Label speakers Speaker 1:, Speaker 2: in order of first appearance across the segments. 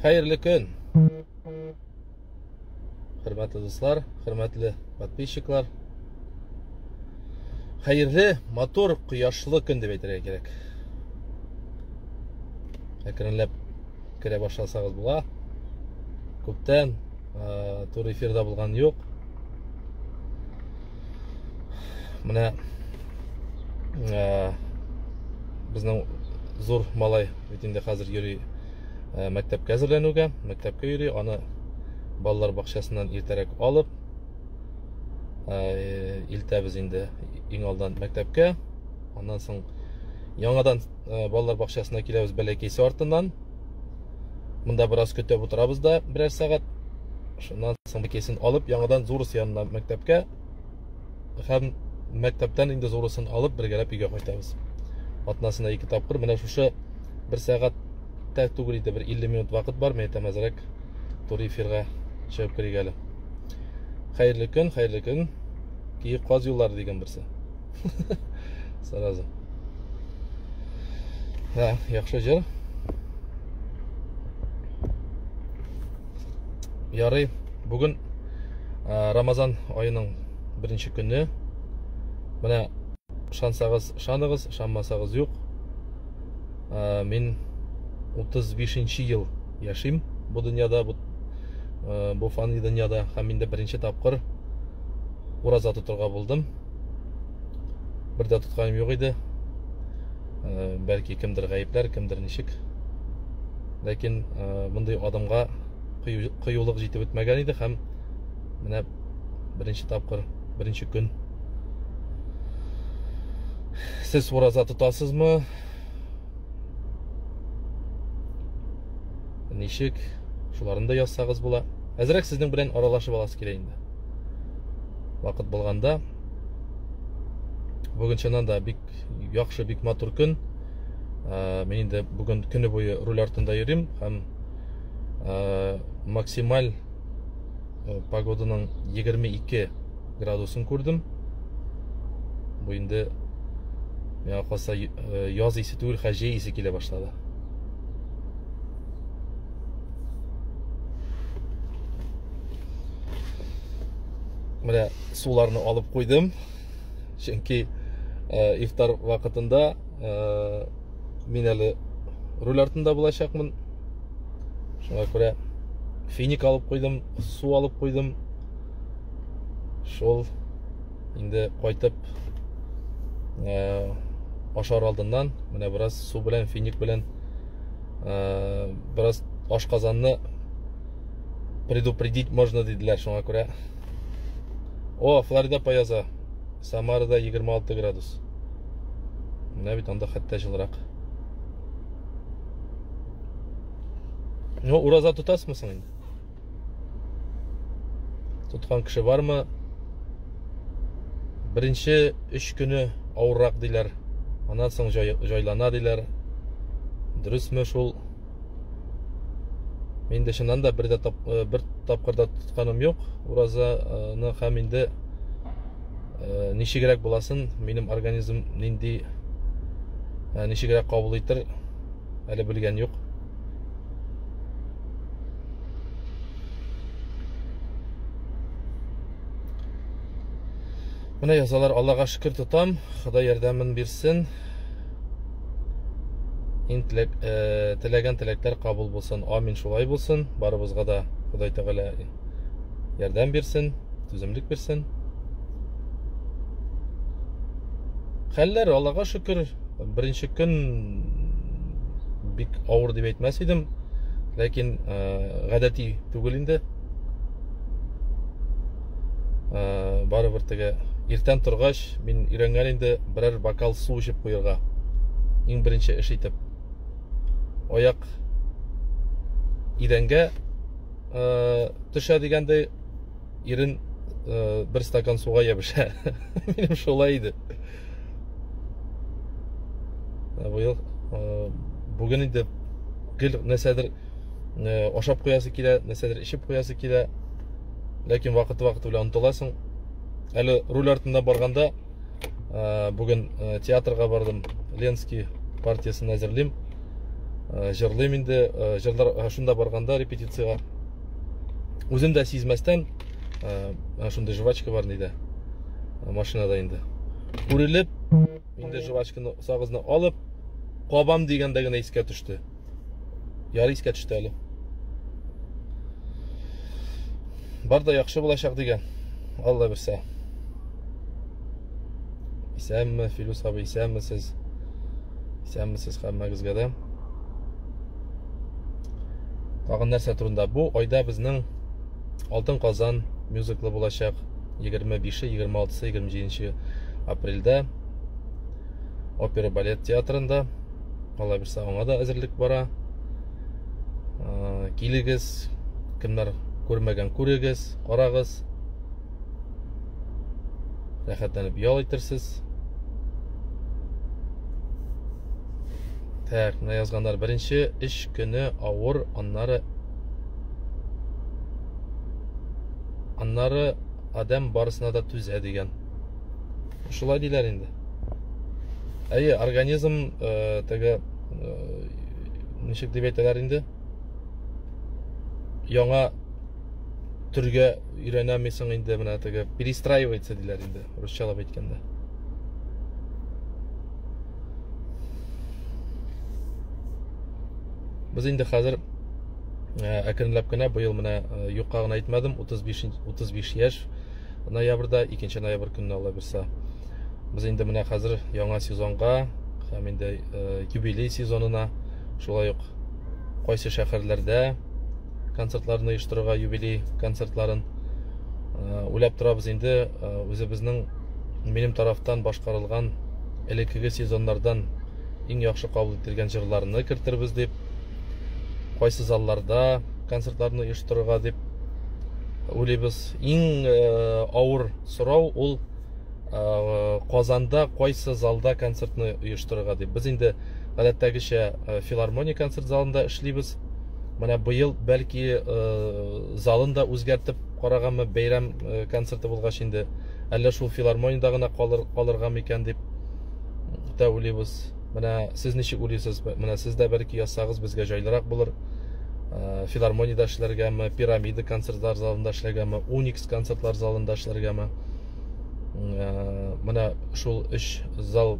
Speaker 1: Хәерле көн! Хөрмәтле дуслар, хөрмәтле подписчиклар. Хәерле, матур, кояшлы көн дип әйтергә кирәк. Әкренләп керә башласагыз була. Күптән э, тур эфирда булган юк. менә ә, безнең зур малай бит инде хәзер йөри ә, мәктәпкә әзерләнүгә мәктәпкә йөри аны балалар бакчасыннан иртәрәк алып ә, илтәбез инде иң алдан мәктәпкә аннан соң яңадан ә, балалар бакчасына киләбез бәләкәйсе артыннан Монда бераз көтеп утырабыз да, берәр сәгать. Шуннан соң бикесен алып, яңадан Зурус янына мәктәпкә һәм мәктәптән инде Зурусын алып, бергәләп өйгә кайтабыз. Атнасына ике тапкыр менә шушы бер сәгать тә түгел иде, бер 50 минут вакыт бар, мә тәмәзрәк туры эфирга чыгып керик әле. Хәерле көн, хәерле көн. Киек каз юллары дигән берсе. Сразу. Да, яхшы җыр. Ярый, бүген Рамазан айының беренче көне. Менә шансагыз, шаныгыз, шанмасагыз юк. Мин 35 ел яшим бу дөньяда, бу бу фан дөньяда һәм инде беренче тапкыр ураза тотырга булдым. бер дә тотканым юк иде э, бәлки кемдер гаепләр кемдер ничек ләкин э, мондый адымга кыюлык җитеп бетмәгән иде һәм менә беренче тапкыр беренче көн сез ураза тотасызмы ничек шуларын да язсагыз була әзрәк сезнең белән аралашып аласы килә инде вакыт булганда бүген чыннан да бик яхшы бик матур көн ә, мин инде бүген көне буе руль артында йөрим һәм ә, максималь э, погоданың 22 градусын күрдем бу инде миңа калса э, яз исе түгел хәҗи исе килә башлады менә суларны алып куйдым чөнки э, ифтар вакытында э, мин әле руль артында булачакмын шуңа күрә финик алып куйдым су алып куйдым шул инде кайтып э, ашар алдыннан менә бераз су белән финик белән бераз ашказанны предупредить можно диделәр шуңа күрә о флорида пояза самарада 26 градус менә бит анда хәтта жылырак ну ураза тотасызмы соң инде тоткан кеше бармы беренче өч көне авыррак диләр аннан соң җайлана диләр дөресме шул Мин дә чыннан да бер дә тап, э, бер тапкырда тотканым юк уразаны һәм инде э, ничегрәк буласын, минем организм нинди э, ничегрәк кабул итер әле белгән юк. Менә язалар, Аллага шөкер тотам, Ходай ярдәмен бирсен. Ин теләк, э, теләгән теләкләр кабул булсын. Амин, шулай булсын. Барыбызга да Ходай Тәгалә ярдәм бирсен, түземлек бирсен. Хәлләр Аллага шөкер, беренче көн бик авыр дип әйтмәс идем, ләкин э, гадәти түгел инде. ә, барыбер теге иртән торгач мин өйрәнгән инде берәр бокал су эчеп куярга иң беренче эш итеп аяк идәнгә ә, төшә дигәндәй ирен ә, бер стакан суга ябыша минем шулай иде ә, быел ә, бүген инде гел нәрсәдер ашап куясы килә нәрсәдер эчеп куясы килә ләкин вакыт вакыт белән онтыласың әле руль артында барганда ә, бүген ә, театрга бардым ленский партиясын әзерлим ә, җырлыйм инде ә, җырлар ә, шунда барганда репетицияга үзем дә сизмәстән ә, шундый жвачка бар нидә машинада инде күрелеп инде жвачканы сагызны алып кабам дигәндә генә искә төште Ярый искә төште әле. Бар да яхшы булачак дигән. Алла бирсә. Исәнме, Филүс абый, исәнме сез? Исәнме сез хәммәгезгә дә? Тагын нәрсә турында? Бу айда безнең Алтын Казан мюзиклы булачак. 25-е, 26-сы, 27 апрельдә опера балет театрында алла бирса аңа да әзерлек бара ә, килегез кемнәр күрмәгән күрегез карагыз рәхәтләнеп ял итерсез так мына язганнар беренче эш көне авыр аннары аннары адәм барысына да түзә дигән шулай диләр инде әйе организм ә, теге ә, ничек дип әйтәләр инде яңа төргә өйрәнәмисең инде менә теге перестраивается диләр инде русчалап әйткәндә без инде хәзер ә, әкренләп кенә быел менә ә, юкка гына әйтмәдем 35 35 яшь ноябрьдә, 2 ноябрь көнне алла бирса. Без инде менә хәзер яңа сезонга һәм инде э, юбилей сезонына шулай ук кайсы шәһәрләрдә концертларны оештырырга юбилей концертларын э, уйлап торабыз инде э, үзебезнең минем тарафтан башкарылган элеккеге сезоннардан иң яхшы кабул ителгән җырларны кертербез дип кайсы залларда концертларны оештырырга дип уйлыйбыз иң э, авыр сорау ул э, казанда кайсы залда концертны оештырырга дип без инде гадәттәгечә э, филармония концерт залында эшлибез менә быел бәлки залын да үзгәртеп караганмы бәйрәм концерты булгач инде әллә шул филармониядә генә калыр, калырга микән дип тә уйлыйбыз Менә сез ничек уйлыйсыз? Менә сез дә бер ике язсагыз, безгә җайлырак булыр. Э, филармониядә эшләргәме, пирамида концертлар залында эшләргәме, уникс концертлар залында эшләргәме? Э, менә шул өч зал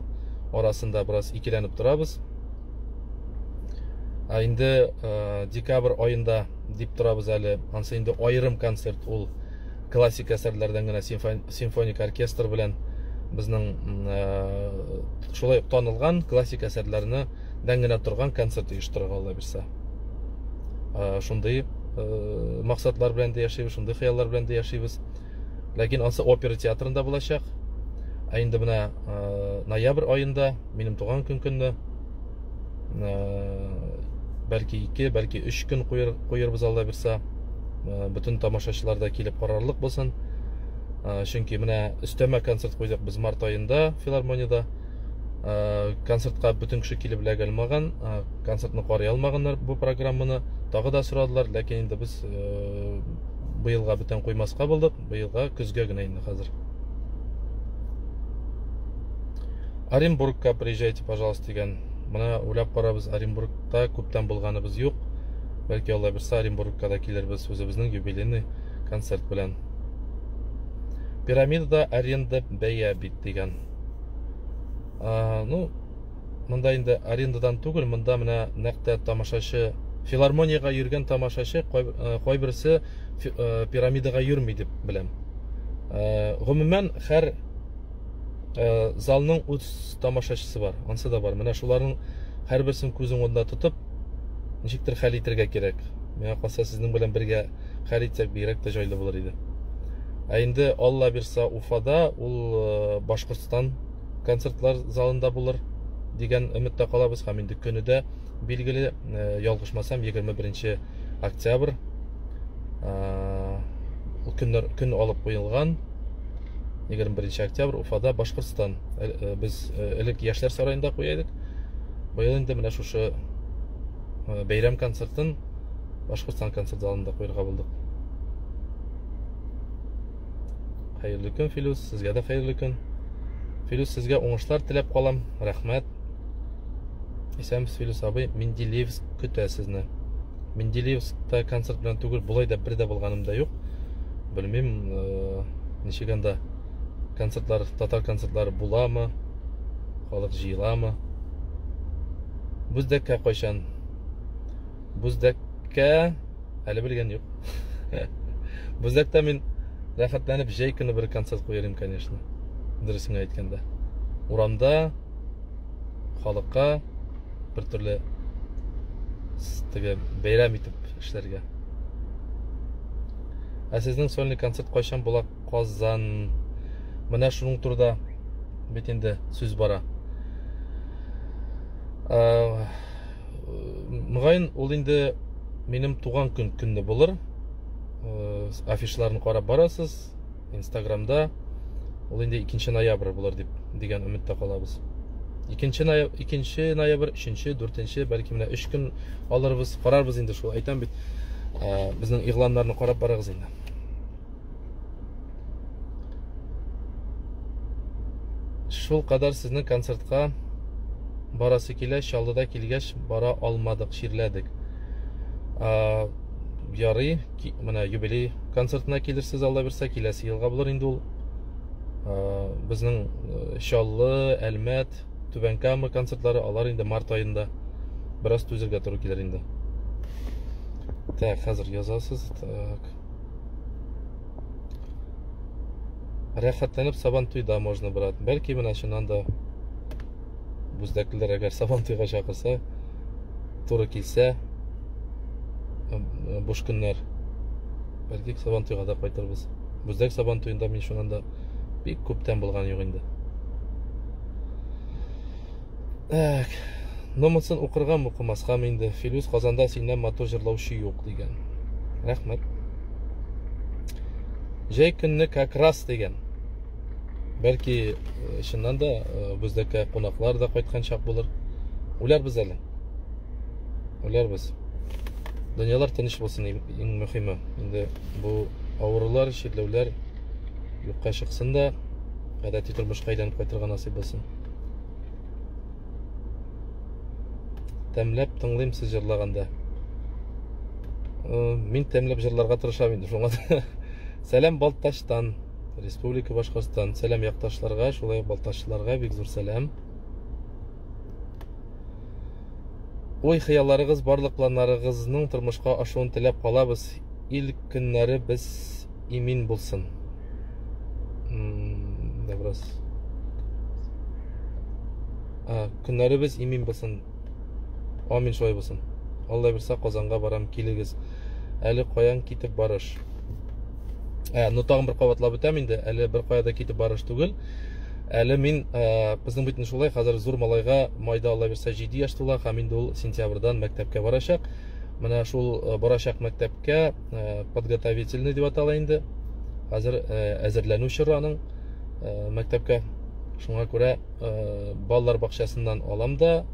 Speaker 1: арасында бераз икеләнеп торабыз. Ә инде э, декабрь аенда дип торабыз әле. Ансы инде аерым концерт ул классик әсәрләрдән генә симфоник оркестр белән безнең э, шулай ук танылган классик әсәрләрне дән генә торган концерт оештырырга алла бирсә э, шундый э, максатлар белән дә яшибез шундый хыяллар белән дә яшибез ләкин ансы опера театрында булачак ә инде менә ноябрь аенда минем туган көн көнне бәлки ике бәлки өч көн куербыз алла бирсә э, бөтен тамашачылар да килеп карарлык булсын э, чөнки менә өстәмә концерт куйдык без март аенда филармониядә э, концертка бөтен кеше килеп эләгә алмаган концертны карый алмаганнар бу программаны тагы да сорадылар ләкин инде без быелга бүтән куймаска булдык быелга көзгә генә инде хәзер оренбургка приезжайте пожалуйста дигән менә уйлап карабыз оренбургта күптән булганыбыз юк Бәлки алла берсе Оренбургка да килербез үзебезнең юбилейный концерт белән. Пирамидада аренда бәя бит дигән. А, ну, монда инде арендадан түгел, монда менә нәктә тамашачы, филармониягә йөргән тамашачы кайберсе пирамидага йөрми дип беләм. Гомумән һәр залның үз тамашачысы бар, ансы да бар. Менә шуларның һәрберсен күз уңында тотып, ничектер хәл итергә кирәк. Миңа калса, сезнең белән бергә хәл итсәк, бигрәк тә җайлы булыр иде. Ә инде Алла бирса Уфада, ул э, Башкортстан концертлар залында булыр дигән өметтә калабыз һәм инде көне дә билгеле, э, ялгышмасам, 21 октябрь э, көннәр көн алып куелган 21 октябрь Уфада Башкортстан. Э, э, без э, элек яшьләр сараенда куя идек. Быел инде менә шушы бәйрәм концертын Башкортстан концерт залында куярга булдык. Хәерле көн, Филүс, сезгә дә хәерле көн. Филүс, сезгә уңышлар теләп калам. Рәхмәт. Исәнмесез, Филүс абый. Менделеевск көтә сезне. Менделеевскта концерт белән түгел, болай да бер дә булганым да юк. Белмим, э, ничек анда концертлар, татар концертлары буламы? халык җыеламы бүздәккә кайчан бүздәккә әле белгән юк бүздәктә мин рәхәтләнеп җәй көне бер концерт куяр идем конечно дөресен генә әйткәндә урамда халыкка бертөрле теге бәйрәм итеп эшләргә ә сезнең сольный концерт кайчан була Казан. Менә шуның турында бит инде сүз бара. Э, Мөгаен, ул инде минем туган көн көнне булыр. Э, афишларын карап барасыз Инстаграмда. Ул инде 2 ноябрь булыр дип дигән өметтә калабыз. 2 ноябрь, 2 ноябрь, 3, 4, бәлки менә 3 көн алырбыз, карарбыз инде шул. Әйтәм бит, э, безнең игъланнарны карап барыгыз инде. Шул кадәр сезнең концертка барасы килә, Чаллыда килгәч бара алмадык, чирләдек. А, ярый, менә юбилей концертына килерсез Алла бирсә, киләсе елга булыр инде ул. А, безнең э, Чаллы, Әлмәт, Түбән Кама концертлары алар инде март аенда. Бераз түзергә туры килер инде. Так, хәзер язасыз. Так. Рәхәтләнеп Сабантуйда можно, брат. Бәлки менә шуннан да бүздәклеләр әгәр Сабантуйга чакырса, туры килсә, буш көннәр. Бәлки Сабантуйга да кайтырбыз. Бүздәк Сабантуенда мин шуннан да бик күптән булган юк инде. Так. Ну монсын укыргам укымаскам инде. Филүс Казанда синнән матур җырлаучы юк дигән. Рәхмәт. Җәй көнне как раз дигән. Бәлки э, чыннан да э, бездәке кунаклар да кайткан чак булыр. Үләрбез әле. Үләрбез. Дөньялар тыныч булсын иң мөхиме. Инде бу авырулар, чирләүләр юкка чыксын да, гадәти тормышка әйләнеп кайтырга насыйп булсын. тәмләп тыңлыйм сез җырлаганда мин тәмләп җырларга тырышам инде шуңа сәлам балтачтан республика башкортстан сәлам якташларга шулай ук балтачлыларга бик зур сәлам ой хыялларыгыз барлык планнарыгызның тормышка ашуын теләп калабыз Ил көннәре без имин булсын. Да бераз. А, көннәребез имин булсын. Амин шулай булсын. Алла бирсә Казанга барам, килегез. Әле каян китеп барыш? Ә, ну тагын бер кабатлап үтәм инде. Әле бер кая да китеп барыш түгел. Әле мин ә, безнең бит шулай, хәзер зур малайга майда Алла бирсә 7 яшь тула, һәм инде ул сентябрьдан мәктәпкә барачак. менә шул э, барачак мәктәпкә э, подготовительный дип атала инде хәзер э, әзерләнү чоры аның мәктәпкә шуңа күрә балалар бакчасыннан алам да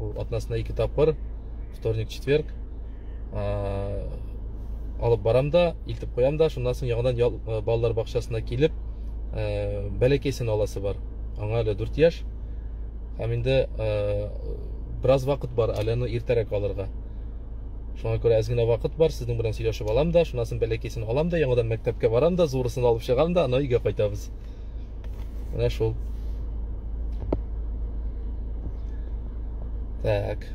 Speaker 1: ул атнасына ике тапкыр вторник четверг алып барам да илтеп куям да шуннан соң яңадан балалар бакчасына килеп бәләкәйсен аласы бар аңа әле дүрт яшь Һәм инде бераз вакыт бар, әле аны иртәрәк алырга. Шуңа күрә әз генә вакыт бар, сезнең белән сөйләшеп алам да, шунасын бәләкәсен алам да, яңадан мәктәпкә барам да, зурысын алып чыгам да, аннан өйгә кайтабыз. Менә шул. Так.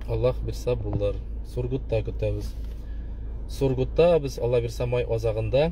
Speaker 1: Аллах бирса булыр. Сургутта көтәбез. Сургутта без Аллах бирса май азагында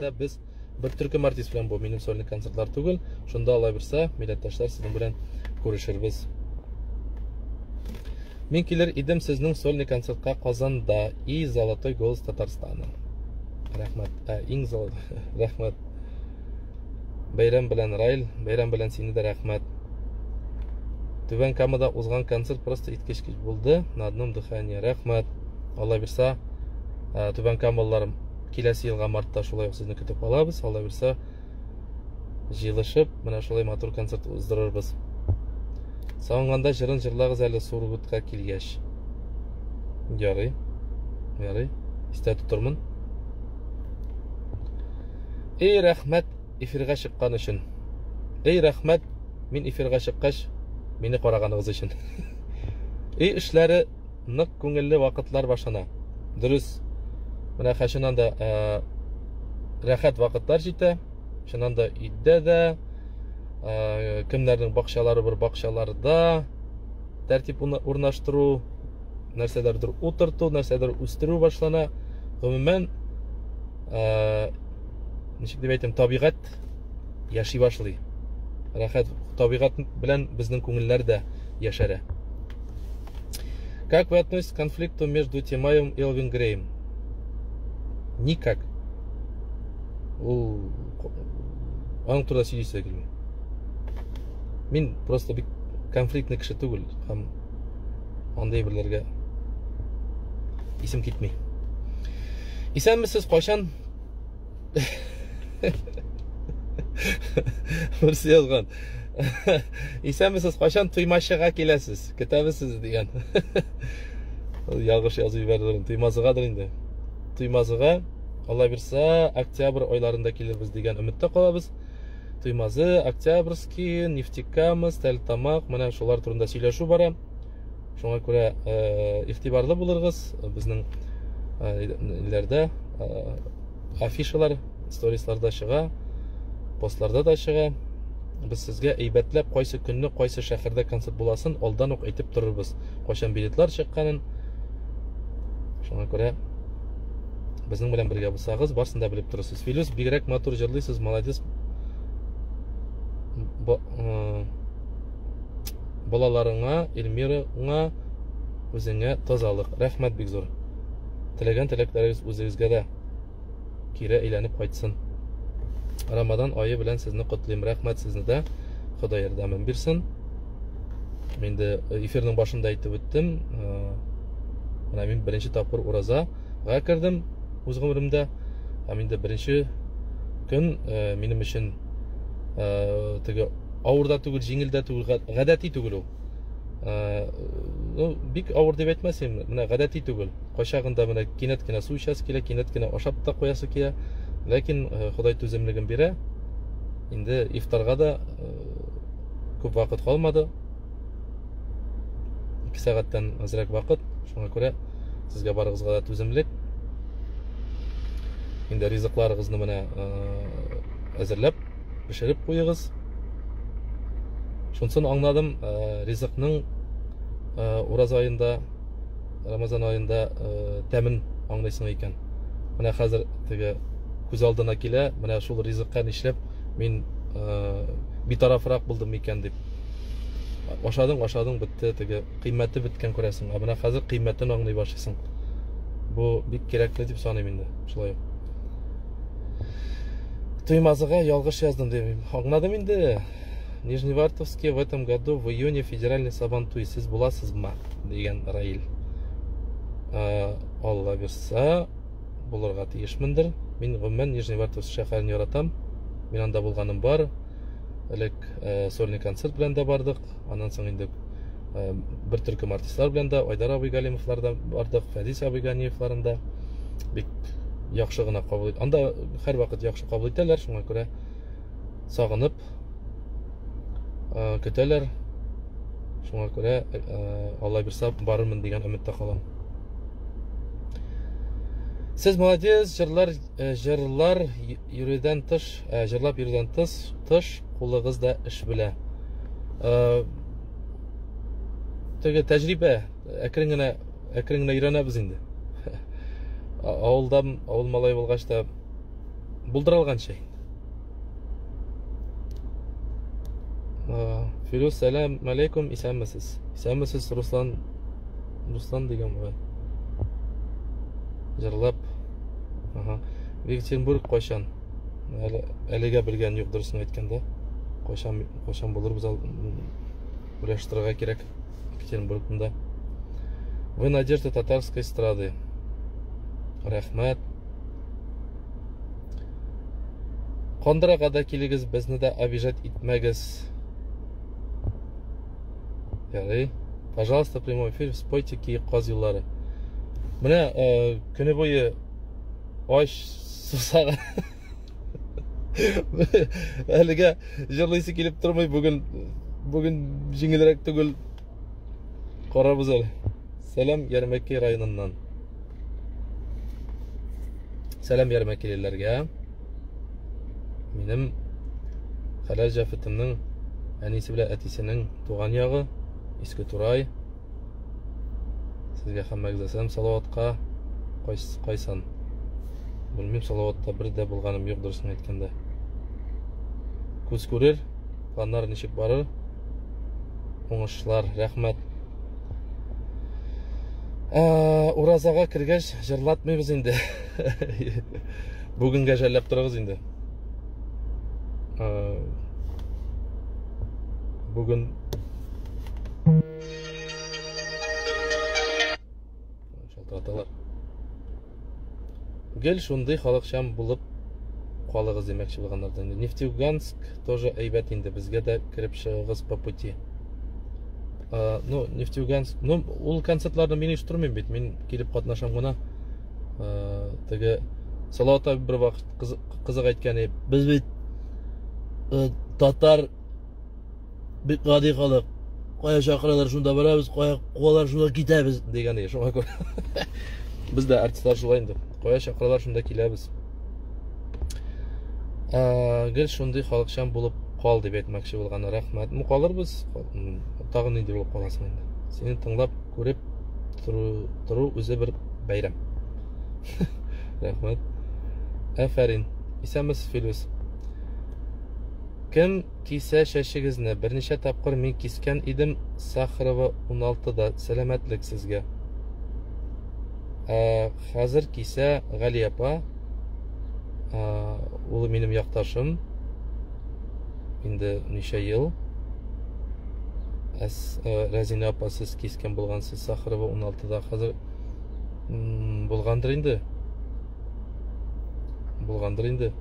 Speaker 1: Дә без бер төркем артист белән бу минем сольный концертлар түгел. Шунда алай берсә, милләттәшләр сезнең белән күрешербез. Мин килер идем сезнең сольный концертка Казанда и Золотой голос Татарстана. Рәхмәт. Ә, иң зал. Рәхмәт. Бәйрәм белән Райл, бәйрәм белән сине дә рәхмәт. Түбән Камада узган концерт просто иткечкеч булды. На одном дыхании. Рәхмәт. Алла бирса, Түбән Камалылар Киләсе елга мартта шулай ук сезне көтеп калабыз. Алла бирсә, җыелышып, менә шулай матур концерт уздырырбыз. Сагынганда җырын җырлагыз әле Сургутка килгәч. Ярый. Ярый. Истә тотырмын. Эй, рәхмәт эфирга чыккан өчен. Эй, рәхмәт, мин эфирга чыккач, мине караганыгыз өчен. Эй, эшләре нык күңелле вакытлар башлана. Дөрес, менә хәчинан да ә, рәхәт вакытлар җитә. Чыннан да өйдә дә, ә, кемнәрнең бакчалары бер бакчаларда тәртип урнаштыру, нәрсәләрдер утырту, нәрсәдер үстерү башлана. Гомумән, ә, ничек дип әйтим, табигать рәхәт яши башлый. Рәхәт табигать белән безнең күңелләр дә яшәрә. Как вы относитесь к конфликту между Тимаевым и Элвин Греем? Никак. Ул аның турында сөйлисә килми. Мин просто бик конфликтный кеше түгел һәм андый берләргә исем китми. Исәнмесез, кайчан Берсе язган. Исәнмесез, кайчан Туймашыга киләсез? Көтәбез сезне дигән. Ул ялгыш язып җибәрде. Туймазыгадыр инде. Туймазыга Алла бирсә, октябрь айларында килербез дигән өметтә калабыз. Туймазы, Октябрьский, Нефтекамс, Тәлтамак, менә шулар турында сөйләшү бара. шуңа күрә игътибарлы булырыгыз безнең ниләрдә афишалар сторисларда чыга постларда да чыга без сезгә әйбәтләп кайсы көнне кайсы шәһәрдә концерт буласын алдан ук әйтеп торырбыз кайчан билетлар чыкканын шуңа күрә безнең белән бергә булсагыз барысын да белеп торырсыз филүс бигрәк матур җырлыйсыз молодец Балаларыңа, Эльмираңа, үзеңә тазалык. Рәхмәт бик зур. Теләгән теләкләрегез үзегезгә дә кире әйләнеп кайтсын. Рамадан айы белән сезне котлыйм. Рәхмәт сезне дә. Ходай ярдәмен бирсен. Мин дә э, эфирның башында әйтеп үттем. Э, менә мин беренче тапкыр уразага кердем үз гомеремдә. Һәм инде беренче көн э, минем өчен ә, теге авыр да түгел җиңел дә түгел гадәти түгел ул ә, ну, бик авыр дип әйтмәс инде менә гадәти түгел кайчагында менә кинәт кенә су эчәсе килә кинәт кенә ашап та куясы килә ләкин ә, ходай түземлеген бирә инде ифтарга да ә, күп вакыт калмады ике сәгатьтән азрәк вакыт шуңа күрә сезгә барыгызга да түземлек инде ризыкларыгызны менә әзерләп пешереп куегыз шунсын аңладым ризыкның ураз аенда рамазан аенда тәмен аңлыйсың икән менә хәзер теге күз алдына килә менә шул ризыкка нишләп мин битарафрак булдым икән дип ашадың ашадың бетте теге кыйммәте беткән күрәсең ә менә хәзер кыйммәтен аңлый башлыйсың бу бик кирәкле дип саныйм инде шулай ук Туймазыга ялгыш яздым дим. Аңладым инде. Нижневартовске в этом году в июне федеральный сабан туй. Сез буласызмы? дигән Раил. Э, Алла бирса, булырга тиешмендер. Мин гомумән Нижневартовск шәһәрен яратам. Мин анда булганым бар. элек э, сольный концерт белән дә бардык аннан соң инде э, бер төркем артистлар белән дә айдар абый галимовлар да бардык фәдис абый ганиевларын да бик яхшы гына кабул ит анда һәрвакыт яхшы кабул итәләр шуңа күрә сагынып э, көтәләр шуңа күрә алла бирса барырмын дигән өметтә калам сез молодец җырлар җырлар Йөрүдән тыш, ә, җырлап йөрүдән тыш, тыш кулыгыз да эш белә. Ә, теге тәҗрибә, әкрен генә, әкрен генә өйрәнәбез инде. Авылдан, авыл малай булгач та булдыра алганча инде. Фирүз, сәлам алейкум, исәнмесез. Исәнмесез, Руслан Руслан дигән бугай. Җырлап. Ага. Екатеринбург кайчан? Әле әлегә белгән юк дөресен әйткәндә. Кайчан кайчан булыр без уйлаштырырга кирәк Екатеринбургда. Вы надежда татарской эстрады. Рәхмәт. Кондырага да килегез, безне дә обижать итмәгез. Яли. Пожалуйста, прямой эфир, спойте ки каз юллары. Менә э, көне буе ач сусаган. Әлегә җырлыйсы килеп тормый, бүген бүген җиңелрәк түгел. Карабыз әле. Сәлам Ярмәкәй районыннан. Сәлам Ярмәкәйлеләргә. Минем хәләл җәфетемнең әнисе белән әтисенең туган ягы Иске Турай. Сезгә һәммәгезгә сәлам Салаватка кайсын. Белмим Салаватта бер дә булганым юк дөресен әйткәндә. Күз күрер, планнар ничек барыр? Уңышлар, рәхмәт. Ә, уразага кергәч җырлатмыйбыз инде. Бүгенгә жәлләп торыгыз инде. Ә, бүген Шалтыраталар. Гел шундый халыкчан булып калыгыз димәкче булганнар да. Нефтеюганск тоже әйбәт инде, безгә дә кереп чыгыгыз по пути. А, ну, Нефтеюганск, ну, ул концертларны мин оештырмыйм бит, мин килеп катнашам гына. А, теге Салават абый бер вакыт кызык әйткәне, без бит э, татар Бик гади халык. Кая чакыралар, шунда барабыз, кая куалар, шунда китәбез дигән иде. Шуңа күрә без дә артистлар шулай инде. Кая чакыралар, шунда киләбез. Ә, гел шундый халыкчан булып кал дип әйтмәкче булган. Рәхмәт. Ну, калырбыз. Тагын нинди булып каласың инде. Сине тыңлап, күреп тору, тору үзе бер бәйрәм. Рәхмәт. Афәрин. Исәнмесез, Филүс. Кем Кисә чәчегезне берничә тапкыр мин кискән идем Сахарова 16 да сәламәтлек сезгә. Ә хәзер кисә Гали апа ә, улы минем якташым инде ничә ел. Әс, ә, Рәзинә апа сез кискән булгансыз Сахарова 16 да хәзер булгандыр инде. Булгандыр инде.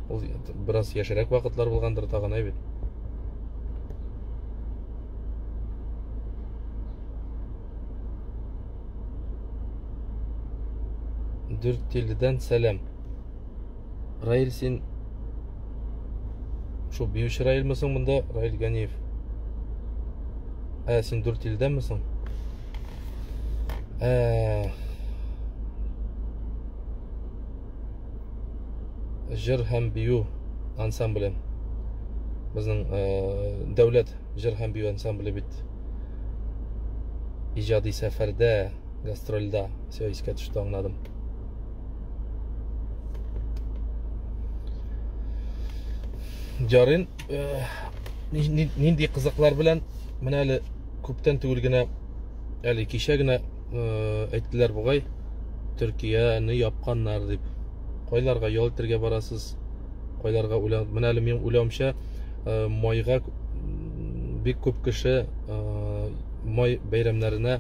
Speaker 1: Ул бераз яшерәк вакытлар булгандыр тагын әй бит. Дүрттилледән сәлам. Раил син шул биюче Раилме соң монда Раил Ганиев? Ә син Дүрттилледәнме соң? Ә җыр һәм бию ансамбле безнең э, дәүләт җыр һәм бию ансамбле бит иҗади сәфәрдә гастрольда все искә төште аңладым ярыйн э, нинди кызыклар белән менә әле күптән түгел генә әле кичә генә э, әйттеләр бугай төркияне япканнар дип кайларга ял итәргә барасыз кайларга уйлан менә әле минем уйлавымча э, майга бик күп кеше э, май бәйрәмнәренә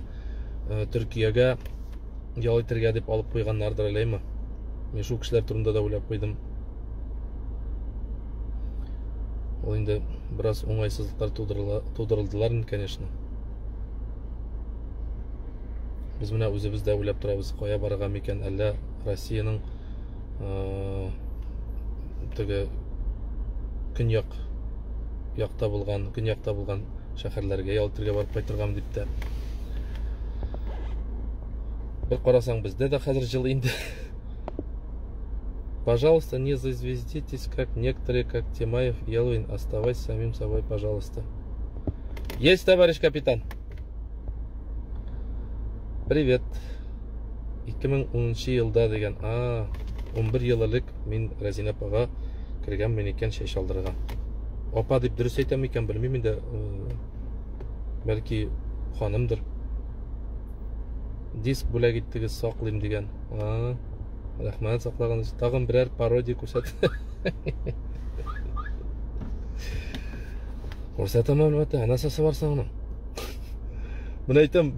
Speaker 1: төркиягә ял итәргә дип алып куйганнардыр әләйме мин шул кешеләр турында да уйлап куйдым ул инде бераз уңайсызлыклар тудырылдылар конечно Без менә үзебез дә уйлап торабыз, кая барырга микән, әллә Россиянең э, теге көньяк якта булган, көньякта булган шәһәрләргә ял итәргә барып кайтыргам дип тә. Бер карасаң бездә дә хәзер җыл инде. Пожалуйста, не зазвездитесь, как некоторые, как Тимаев, Елвин, оставайся самим собой, пожалуйста. Есть, товарищ капитан. Привет. 2010 елда деген, а, 11 ел элек мин Разина апага кергән мен икән чәй шалдырырга. Апа дип дөрес әйтәм икән, белмим инде. Э, бәлки ханымдыр. Диск бүләк иттегез, саклыйм дигән. А, рәхмәт саклаганыч тагын берәр пародия күрсәт күрсәтәм әлбәттә ә нәрсәсе бар соң аның міне әйтәм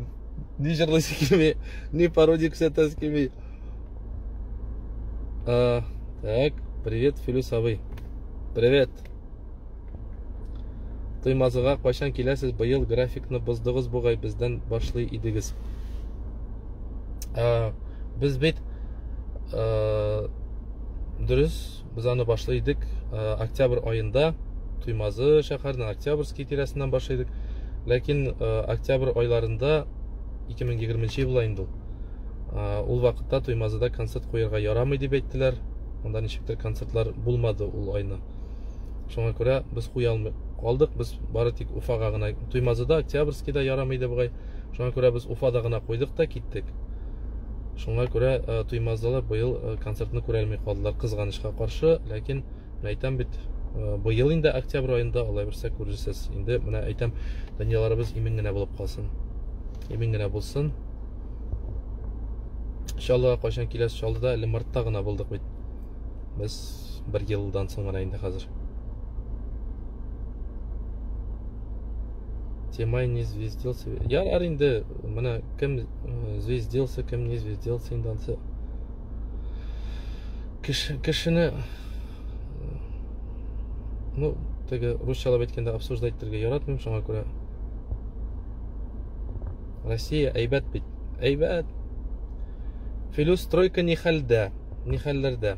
Speaker 1: ни жырлыйсы килми ни пародия күрсәтәсе килми так привет филюс абый привет Туймазыга кайчан киләсез? Быел графикны боздыгыз бугай, бездән башлый идегез. Ә, без бит ә, дөрес, без аны башлый идек ә, октябрь аенда. Туймазы шәһәреннән Октябрьский тирәсеннән башлый идек. Ләкин ә, октябрь айларында 2020 елда инде ул. Ә, ул вакытта Туймазыда концерт куярга ярамый дип әйттеләр. Анда ничектер концертлар булмады ул айны. шуңа күрә без куя алмый калдык без бары тик уфага гына туймазыда октябрьскийда ярамый иде бугай шуңа күрә без уфада гына куйдык та киттек шуңа күрә э, туймазылар быел э, концертны күрә алмый калдылар кызганычка каршы ләкин мен әйтәм бит э, быел инде октябрь аенда алай берсә күрерсез инде менә әйтәм дөньяларыбыз имин генә булып калсын имин генә булсын чаллыга кайчан киләсез чаллыда әле мартта гына булдык бит без бер елдан соң гына инде хәзер Темай не звездился. Ярар инде, менә кем э, звездился, кем не звездился инде ансы. Кеше, кешене ну, теге русчалап әйткәндә обсуждать итәргә яратмыйм, шуңа күрә Россия әйбәт бит. Әйбәт. Филюс стройка не хәлдә. ни хәлләрдә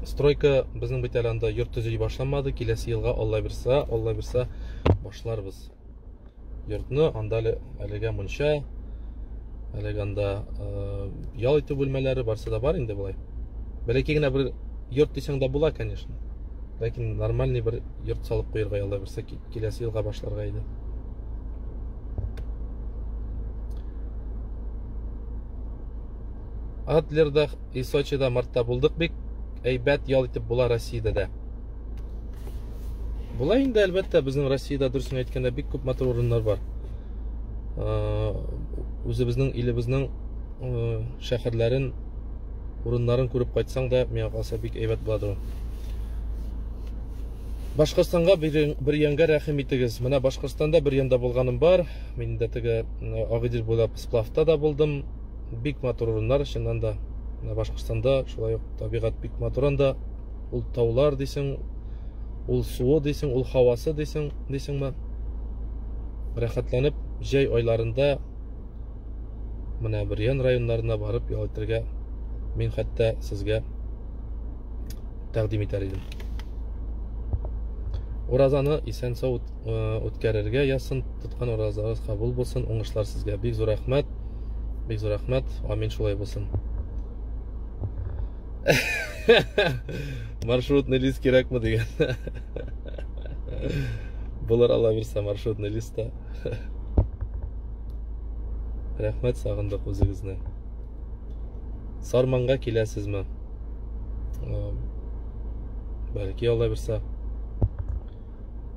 Speaker 1: стройка безнең бит әле анда йорт төзи башламады киләсе елга алла бирса алла бирса башларбыз йортны анда әле әлегә мунча әлегә анда э, ял итү бүлмәләре барсы да бар инде болай бәләкәй генә бер йорт дисәң дә була конечно ләкин нормальный бер йорт салып куярга алла бирса киләсе елга башларга иде Адлерда и Сочида мартта булдык бик әйбәт ял итеп була Россиядә дә. Була инде әлбәттә безнең Россиядә дөресен әйткәндә бик күп матур урыннар бар. Үзебезнең илебезнең шәһәрләрен, урыннарын күреп кайтсаң да, миңа калса бик әйбәт буладыр ул. Башкортстанга бер янга рәхим итегез. Менә Башкортстанда бер янда булганым бар. Мин дә теге Агыйдел буйлап сплавта да булдым. бик матур урыннар чыннан да менә башкортстанда шулай ук табигать бик матур анда ул таулар дисең ул суы дисең ул һавасы дисең дисеңме рәхәтләнеп җәй айларында менә бөрьян районнарына барып ял итәргә мин хәтта сезгә тәкъдим итәр идем уразаны исән сау үткәрергә язсын тоткан уразагыз кабул булсын уңышлар сезгә бик зур рәхмәт бик зур рәхмәт амин шулай булсын маршрутный лист кирәкме деген болар ала берсе маршрутный листта рәхмәт сагындык үзегезне сарманга киләсезме бәлки ала берсе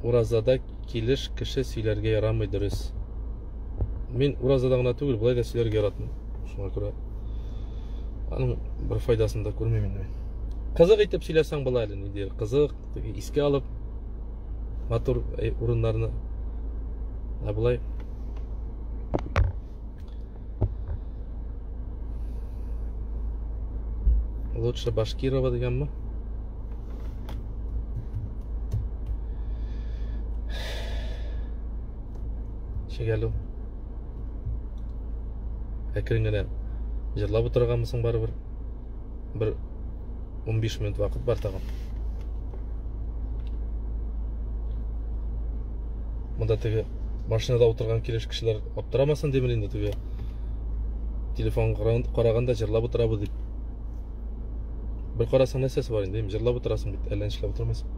Speaker 1: Уразада килеш кеше сөйләргә ярамый дөрес. Мин уразада гына түгел, болай да сөйләргә яратмыйм. Шуңа күрә аның бер файдасын да күрмим инде. Кызык итеп сөйләсәң була әле, ниндидер кызык, искә алып матур урыннарны. Ә болай лучше башкирова дегенме шегәлу әкрен генә җырлап утырганмысың барыбер бер 15 минут вакыт бар тагын монда теге машинада утырган килеш кешеләр Аптырамасын димер инде теге. Телефон караганда җырлап утырабыз дип. Бер карасаң нәрсәсе бар инде, җырлап утырасың бит, әллә нишләп утырмыйсың.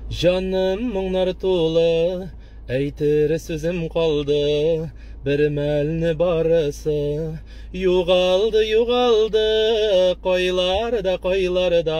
Speaker 1: Җаным моңнар тулы, әйтер сүзем калды, бер мәлне барысы югалды, югалды, кайларда, кайларда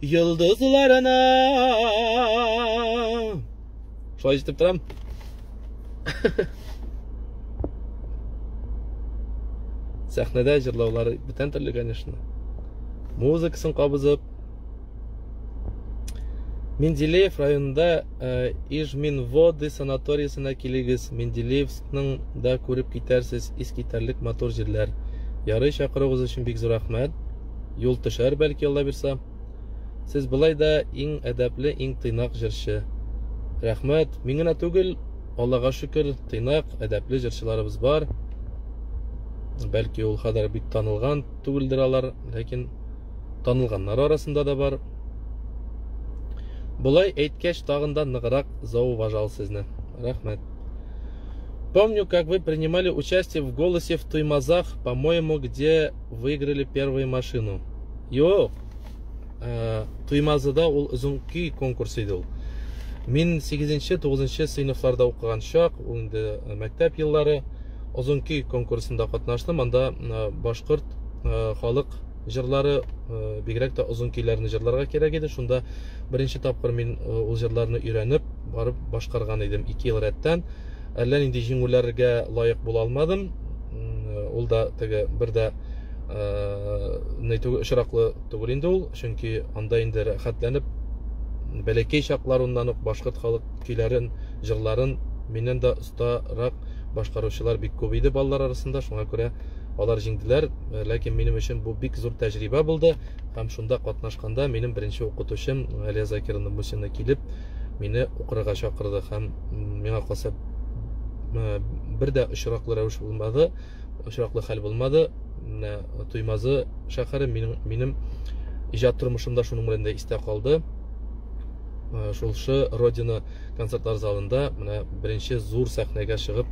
Speaker 1: Йолдызларына. Шулай җитеп торам. Сәхнәдә җырлаулары бүтән төрле, конечно. Музыкасын кабызып. Менделеев районында э, Ижминводы санаториясенә килегез. Менделеевскның да күреп китәрсез искитәрлек матур җирләр. Ярый чакыруыгыз өчен бик зур рәхмәт. юл төшәр, бәлки, Аллабирса. Сез былай да иң әдәпле, иң тыйнак җырчы. Рәхмәт. Мин генә түгел, Аллага шөкер, тыйнак, әдәпле җырчыларыбыз бар. Бәлки, ул кадәр бик танылган түгелдер алар, ләкин танылганнар арасында да бар. Болай әйткәч, тагын да ныграк зауважал сезне. Рәхмәт. Помню, как вы принимали участие в голосе в Туймазах, по-моему, где Выиграли первую машину. Юк. Э, Туймазыда ул озын көй конкурсы иде ул. Мин 8-нче, 9-нчы сыйныфларда укыган чак, ул инде э, мәктәп еллары озын көй конкурсында катнаштым. Анда э, башкорт халык җырлары, бигрәк тә озын көйләрне җырларга кирәк иде. Шунда беренче тапкыр мин ул җырларны өйрәнеп, барып башкарган идем 2 ел рәттән. әллә нинди җиңүләргә лаек була алмадым. Ул да теге бер дә не түгел очраклы түгел инде ул, чөнки анда инде рәхәтләнеп бәләкәй чакларыннан ук башкорт халык көйләрен, җырларын миннән дә остарак башкаручылар бик күп иде балалар арасында, шуңа күрә алар җиңделәр, ләкин минем өчен бу бик зур тәҗрибә булды һәм шунда катнашканда минем беренче укытучым Галия Закировна Мусина килеп мине укырга чакырды һәм миңа калса бер дә очраклы рәвеш булмады, очраклы хәл булмады. Менә Туймазы шәһәре минем минем иҗат тормышымда шуның белән дә истә калды. Э, шулшы Родина концертлар залында менә беренче зур сәхнәгә чыгып,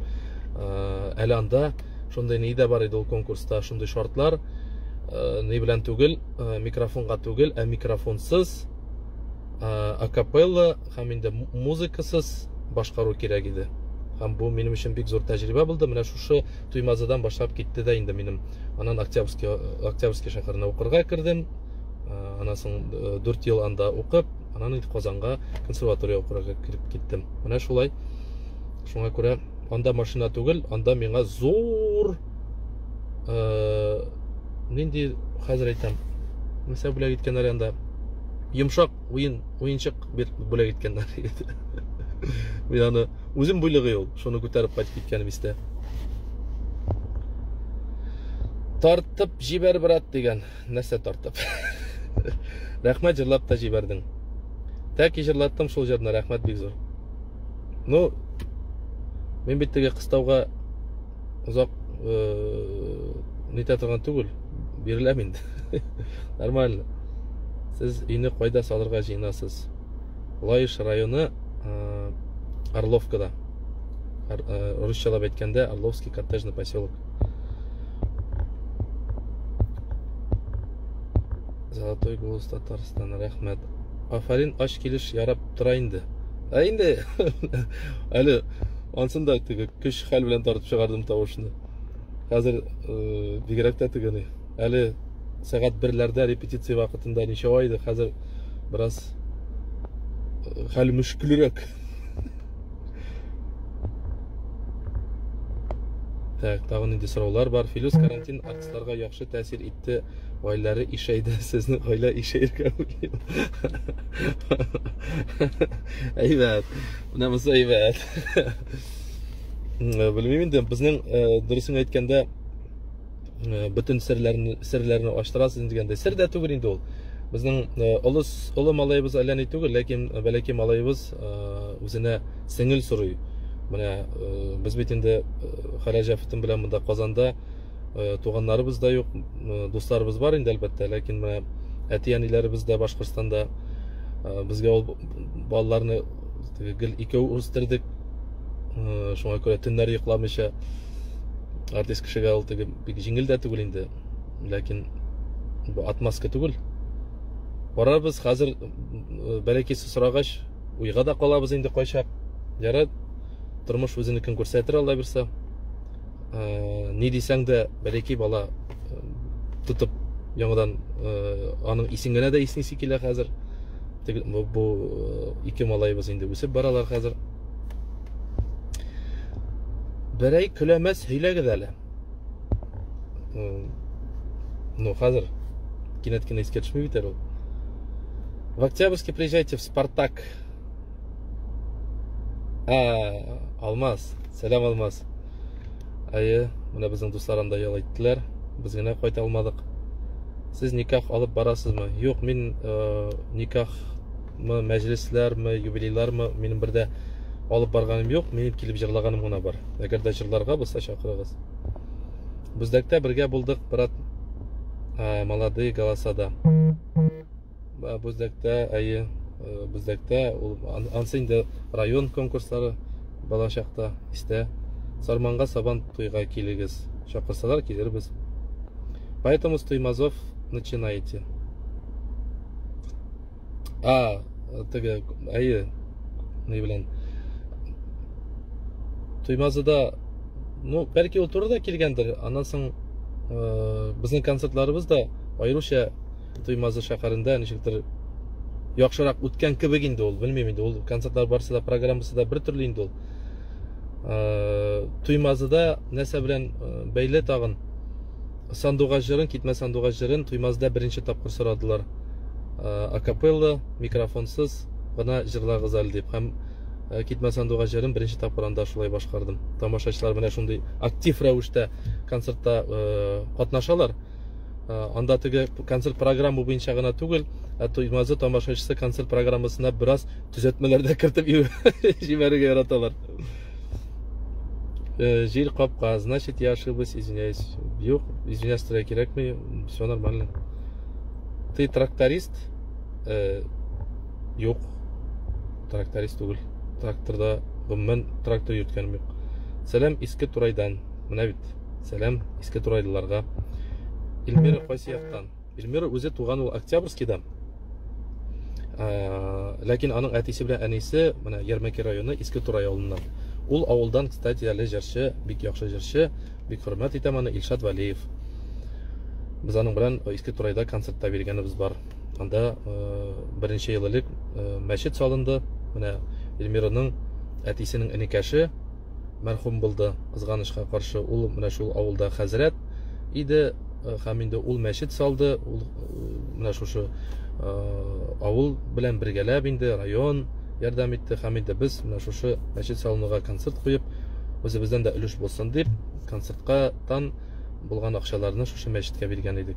Speaker 1: э, әле анда шундый ни дә бар иде ул конкурста, шундый шартлар, э, ни белән түгел, микрофонга түгел, ә микрофонсыз акапелла һәм инде музыкасыз башкару кирәк иде һәм бу минем өчен бик зур тәҗрибә булды менә шушы туймазыдан башлап китте дә инде минем анан октябрьский октябрьский шәһәренә укырга кердем анан соң дүрт ел анда укып анан инде казанга консерватория укырга кереп киттем менә шулай шуңа күрә анда машина түгел анда миңа зур э, нинди хәзер әйтәм нәрсә бүләк иткәннәр анда йомшак уен уенчык бер бүләк иткәннәр мин аны үзем бүлеге ул шуны күтәреп кайтып киткәнем истә тартып җибәр брат дигән нәрсә тартып рәхмәт җырлап та җибәрдең тәки җырлаттым шул җырны рәхмәт бик зур ну мин бит теге кыстауга озак нитә торган түгел биреләм инде нормально сез өйне кайда салырга җыенасыз лаеш районы орловкада русчалап әйткәндә орловский коттеджный поселок золотой голос татарстан рәхмәт афарин ач килеш ярап тора инде ә инде әле Ансын да теге көч хәл белән тартып чыгардым тавышны. Хәзер э, бигрәк тә тегени. Әле сәгать берләрдә репетиция вакытында ничәва иде, хәзер бераз э, хәл мөшкелрәк. Так, тагын инде сораулар бар. Филюс карантин Кызларга яхшы тәэсир итте, гаиләләре ишәйде. Сезнең гаилә ишәергә уйлый. Әйбәт. Менә монысы әйбәт. Белмим инде, безнең э, дөресен әйткәндә э, бөтен серләрне серләрне ачтырасыз дигәндә, сер дә түгел инде ул. Безнең э, олы олы малаебыз әллә ни түгел, ләкин бәләкәй малаебыз үзенә сеңел сорый. Менә без бит инде Хәрәҗәфтин белән монда Казанда э, туганнарыбыз да юк э, дусларыбыз бар инде әлбәттә ләкин менә әти әниләребез дә башкортстанда э, безгә ул балаларны гел икәү үстердек шуңа күрә төннәр йокламыйча артист кешегә ул теге бик җиңел дә түгел инде ләкин бу отмазка түгел барабыз хәзер бәләкәсе сорагач уйга да калабыз инде кайчак ярат тормыш үзенекен күрсәтер алла бирса ә, ни дисәң дә бер ике бала ә, тотып яңадан ә, аның исен генә дә иснисе килә хәзер бу, бу ике малайыбыз инде үсеп баралар хәзер берәй көләмәс һөйләгез әле ну хәзер кинәт кенә искә төшми бит әле ул в октябрьске приезжайте в спартак Ә, Алмаз, сәлам Алмаз. Әйе, менә безнең дуслар анда ял иттеләр. Без генә кайта алмадык. Сез никах алып барасызмы? Юк, мин э, никахмы, мәҗлесләрме, юбилейлармы минем бердә алып барганым юк. Минем килеп җырлаганым гына бар. Әгәр дә җырларга булса чакырыгыз. Бүздәктә бергә булдык, брат, э, молодые голосада. Бүздәктә, әйе, э, Бүздәктә, ул ансы инде район конкурслары балачакта, истә. Сарманга сабан туйга килегез. Чакырсалар килербез. Поэтому с Туймазов начинайте. А, теге, әйе, ни белән. Туймазыда, ну, бәлки ул турыда килгәндер, аннан соң э, безнең концертларыбыз да аеруча Туймазы шәһәрендә ничектер яхшырак үткән кебек инде ул, белмим инде, ул концертлар барысы да, программасы да бер төрле инде ул. Туймазыда нәрсә белән бәйле тагын? Сандугач җырын, китмә сандугач җырын Туймазыда беренче тапкыр сорадылар. Акапелла, микрофонсыз гына җырлагыз әле дип. Һәм Э, китмә сандугач җырын беренче тапкыр анда шулай башкардым тамашачылар менә шундый актив рәвештә концертта э, катнашалар Э, анда теге концерт программа буенча гына түгел, ә Туймазы тамашачысы концерт программасына бераз төзәтмәләр дә кертеп җибәрергә яраталар. Э, Җир капка, значит, я ошиблась, извиняюсь. Юк, извиняюсь, тирә кирәкми, все нормально. Ты тракторист? Э, юк, тракторист түгел. Тракторда гомумән трактор йөрткәнем юк. Сәлам, иске Турайдан. Менә бит. Сәлам, иске турайлыларга. Эльмира кайсы яктан? Эльмира үзе туган ул Октябрьскийда. Ләкин аның әтисе белән әнисе менә Ярмәки районы Иске Турай авылыннан. Ул авылдан, кстати, әле җырчы, бик яхшы җырчы, бик хөрмәт итәм аны Илшат Валиев. Без аның белән Иске Турайда концертта биргәнебез бар. Анда беренче ел элек мәчет салынды. Менә Эльмираның әтисенең энекәше мәрхүм булды, кызганычка каршы. Ул менә шул авылда хәзрәт иде һәм инде ул мәчет салды, ул менә шушы авыл белән бергәләп инде район ярдәм итте һәм инде без менә шушы мәчет салынуга концерт куеп, үзебездән дә өлеш булсын дип, концертка тан булган акчаларны шушы мәчеткә биргән идек.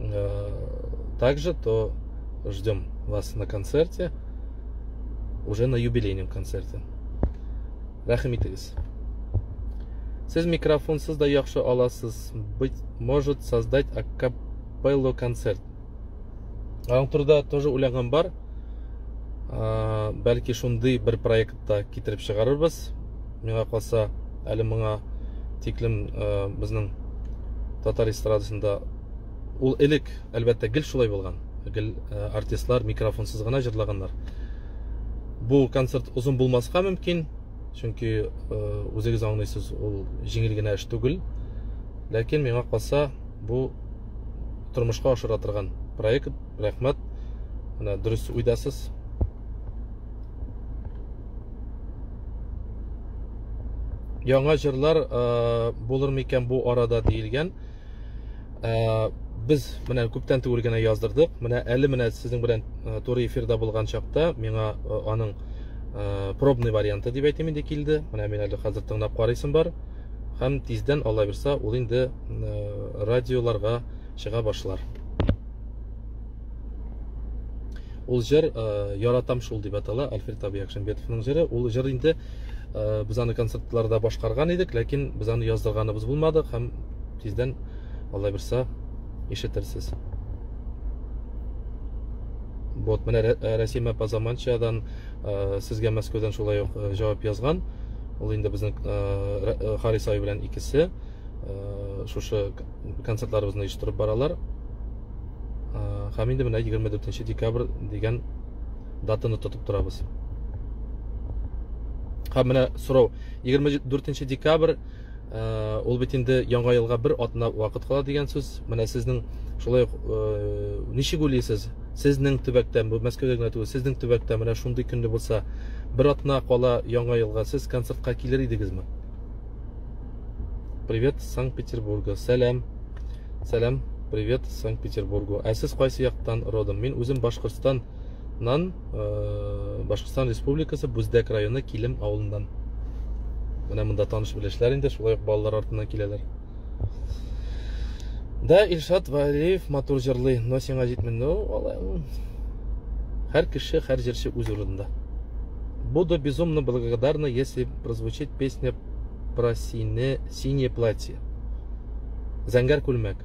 Speaker 1: э, также, то ждем вас на концерте, уже на юбилейном концерте. Рахим итегез. Сез микрофонсыз да яхшы аласыз. Быть может создать акапелло концерт. Аның турында тоже уйлаган бар. Ә, бәлки шундый бер проект та китереп чыгарырбыз. Миңа калса, әле моңа тиклем э, безнең татар эстрадасында ул элек, әлбәттә, гел шулай булган. Гел э, артистлар микрофонсыз гына җырлаганнар. Бу концерт озын булмаска мөмкин, чөнки э, үзегез аңлыйсыз, ул җиңел генә эш түгел. Ләкин миңа калса, бу тормышка ашыра торган проект. Рәхмәт. Менә дөрес уйдасыз. Яңа җырлар э, булыр микән бу арада диелгән. Э, без менә күптән түгел генә яздырдык. Менә әле менә сезнең белән э, туры эфирда булган чакта миңа аның пробный варианты дип әйтим инде килде. Менә мин әле хәзер тыңлап карыйсым бар. Һәм тиздән алла бирса, ул инде радиоларга чыга башлар. ул җыр э, яратам шул дип атала альфред абый әкшәмбетовның җыры ул җыр инде э, без аны концертларда башкарган идек ләкин без аны яздырганыбыз булмады һәм тиздән алла бирса ишетерсез вот менә рәсим апа заманчадан э, сезгә мәскәүдән шулай ук җавап язган ул инде безнең харис абый белән икесе шушы концертларыбызны оештырып баралар һәм инде менә егерме дүртенче декабрь дигән датаны тотып торабыз һәм менә сорау егерме дүртенче декабрь ул бит инде яңа елга бер атна вакыт кала дигән сүз менә сезнең шулай ук ничек уйлыйсыз сезнең төбәктә бу мәскәүдә генә түгел сезнең төбәктә менә шундый көнне булса бер атна кала яңа елга сез концертка килер идегезме Привет Санкт-Петербурга. Сәлам. Сәлам. Привет Санкт-Петербургу. Ә сез кайсы яктан родом? Мин үзем Башкортстаннан, э, Башкортстан Республикасы Бүздәк районы Килем авылыннан. Менә монда таныш белешләр инде, шулай ук балалар артыннан киләләр. Да, Илшат Валиев матур җырлый, но сиңа җитми. Ну, алай. Һәр кеше, һәр җырчы үз урынында. Буду безумно благодарна, если прозвучит песня про сине, синее платье. Зәңгәр күлмәк.